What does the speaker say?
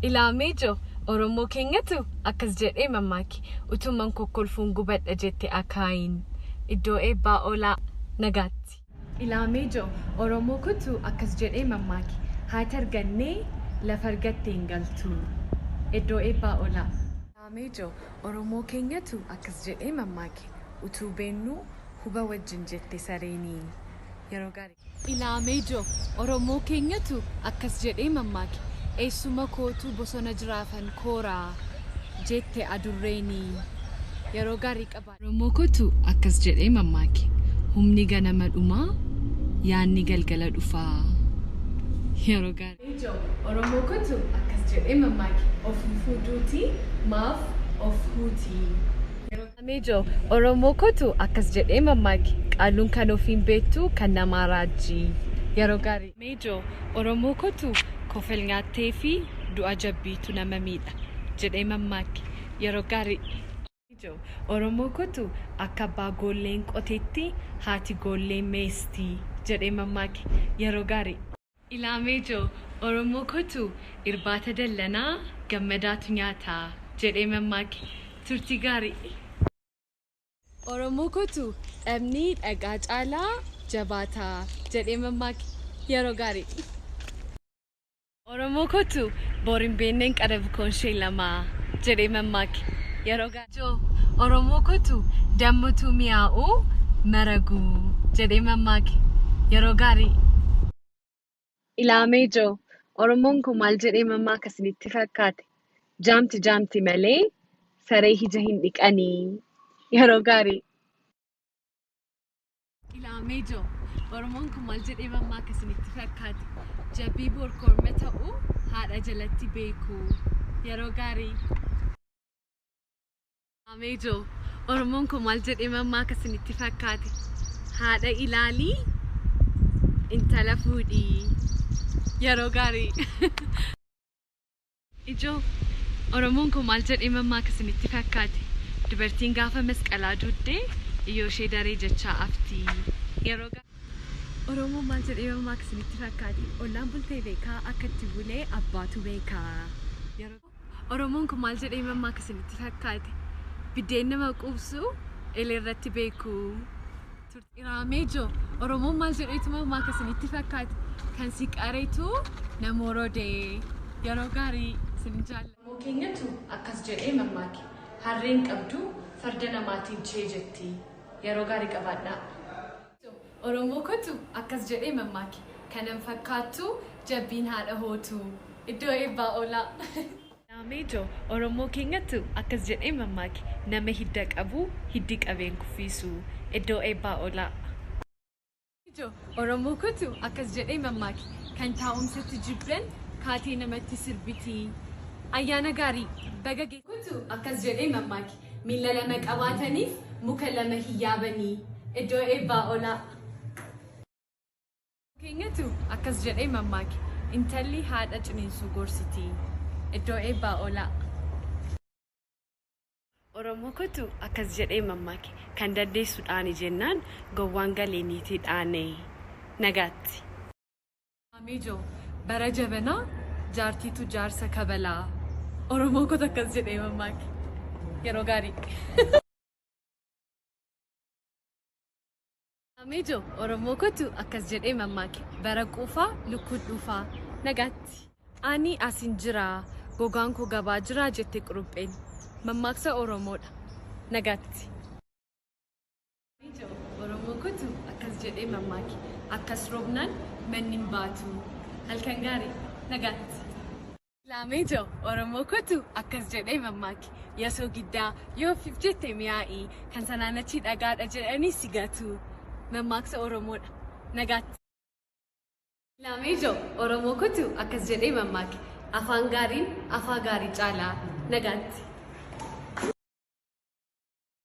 Ilaa mee jo, Oromoo keenyatu akkas jedhee mammaake, Utuman kokkolfuun gubadha jette akaayiin. Iddoo eebbaa oolaa nagaatti. Ilaa mee jo, Oromoo kotu akkas jedhee mammaake, Haati argannee lafa argatte hin galtu. Iddoo eebbaa oolaa. Ilaa mee jo, Oromoo keenyatu akkas jedhee mammaake, Utuu beennuu huba wajjin jette sareenii. Yeroo gaarii. Ilaamee Jo, Oromoo keenyatu akkas jedhee mammaake, Eessuma kootu bosona jiraafan koora jette adurreeni. Yeroo gaarii qabaadhu. Oromoo kootu akkas jedhee mammaake, Humni ganama dhuma, yaanni galgala dhufa. Yeroo gaarii. Ilaamee Jo, Oromoo kootu akkas jedhee mammaake, Ofuufuu duuti maaf of huuti. Yeroo. Amejo oromoo kotu akkas jedhee mammaaki qaalluun kan ofii hin beektu kan namaa raajji yeroo gaarii. Amejo oromoo kotu kofel nyaattee fi du'a jabbiitu nama miidha jedhee mammaaki yeroo gaarii. Amejo oromoo kotu akka abbaa goolleen qoteetti haati goollee meestii jedhee mammaaki yeroo gaarii. Ilaamee joo, Oromoo kotuu, irbaata dallanaa, gammadaatu nyaata, jedhee mammaake. Turtii gaarii! Oromoo kotuu, dhabni dhagaa caalaa jabaata, jedhee mammaake. Yeroo gaarii! Oromoo kotuu, bor hin beenneen qara bukoonshee lama, jedhee mammaake. Yeroo gaarii! Jo Oromoo kotu dammutuu miyaa'u maragu jedhee mammaake yeroo gaarii. Ilaamee Jo Oromoon koo maal jedhee mammaaka isinitti fakkaate jaamti jaamti malee saree hija hin dhiqani yeroo gaarii. Ilaamee Jo Oromoon koo maal jedhee mammaaka isinitti fakkaate jabbii boor korma ta'u haadha jalatti beeku yeroo gaarii. Ameejoo Oromoon koo maal jedhee mammaa akka isinitti fakkaate haadha ilaalii intala fuudhii yeroo gaarii ijoo Oromoon koo maal jedhee mammaa akka isinitti fakkaate dubartiin gaafa masqalaa duuddee iyyoo ishee daree jechaa aftii yeroo gaarii Oromoon maal jedhee mammaa akka isinitti fakkaate ollaan bultee beekaa akka itti bulee abbaatu beekaa yeroo Oromoon kun maal jedhee mammaaka isinitti fakkaate? Biddeen nama quubsu eleerratti beeku. Iraameejoo, Oromoon maal jedheetu mammaaka isinitti fakkaate? Kan si qaretu na morode. Yeroo gaarii isin jaalla. Oromoo keenyatu akkas jedhee mammaake. Harreen qabdu farda namaatiin chee jetti. Yeroo gaarii qabaadhaa. Oromoo kotu akkas jedhee mammaake kanan fakkaattu jabbiin haadha hootu iddoo eebbaa oolaa. Naameejo Oromoo keenyatu akkas jedhee mammaake nama hidda qabu hiddi qabee hin kuffiisu iddoo eebbaa oolaa. Naameejo Oromoo kotu akkas jedhee mammaake kan taa'umsatti jibban kaatee namatti sirbiti. Ayyaana gaarii! Baga. Kotu akkas jedhee mammaake Miila lama qabaatanii muka lama hin yaabanii. Iddoo eebbaa olaa. keenyatu akkas jedhee mammaake. Intalli haadha ciniinsuu gorsiti. Iddoo eebbaa olaa. Oromoo kotu akkas jedhee mammaake. Kan daddeessu dhaani jennaan gowwaan galee niitii dhaane. Nagaatti. Mijo bara jabana jaartiitu jaarsa kabala oromoo kota akkas jedhee mammaake yeroo gaarii. Mijo oromoo kotu akkas jedhee mammaake bara quufaa lukkuu dhuufaa nagaatti. Ani asin jira gogaan koo gabaa jira jette qurupheen mammaaksa oromoodha nagaatti. Ijoo Oromoo kutu akkas jedhee mammaake akkas roobnaan manni hin baatu. Halkan gaarii nagaatti. Laamee ijoo Oromoo kutu akkas jedhee mammaake yasoo giddaa yoo fif jette mi'aa'ii kan sanaan achii dhagaadha jedhanii si gatu. Mammaaksa Oromoodha. Nagaatti. Laamee ijoo Oromoo kutu akkas jedhee mammaake afaan gaariin afaa gaarii caalaa. Nagaatti.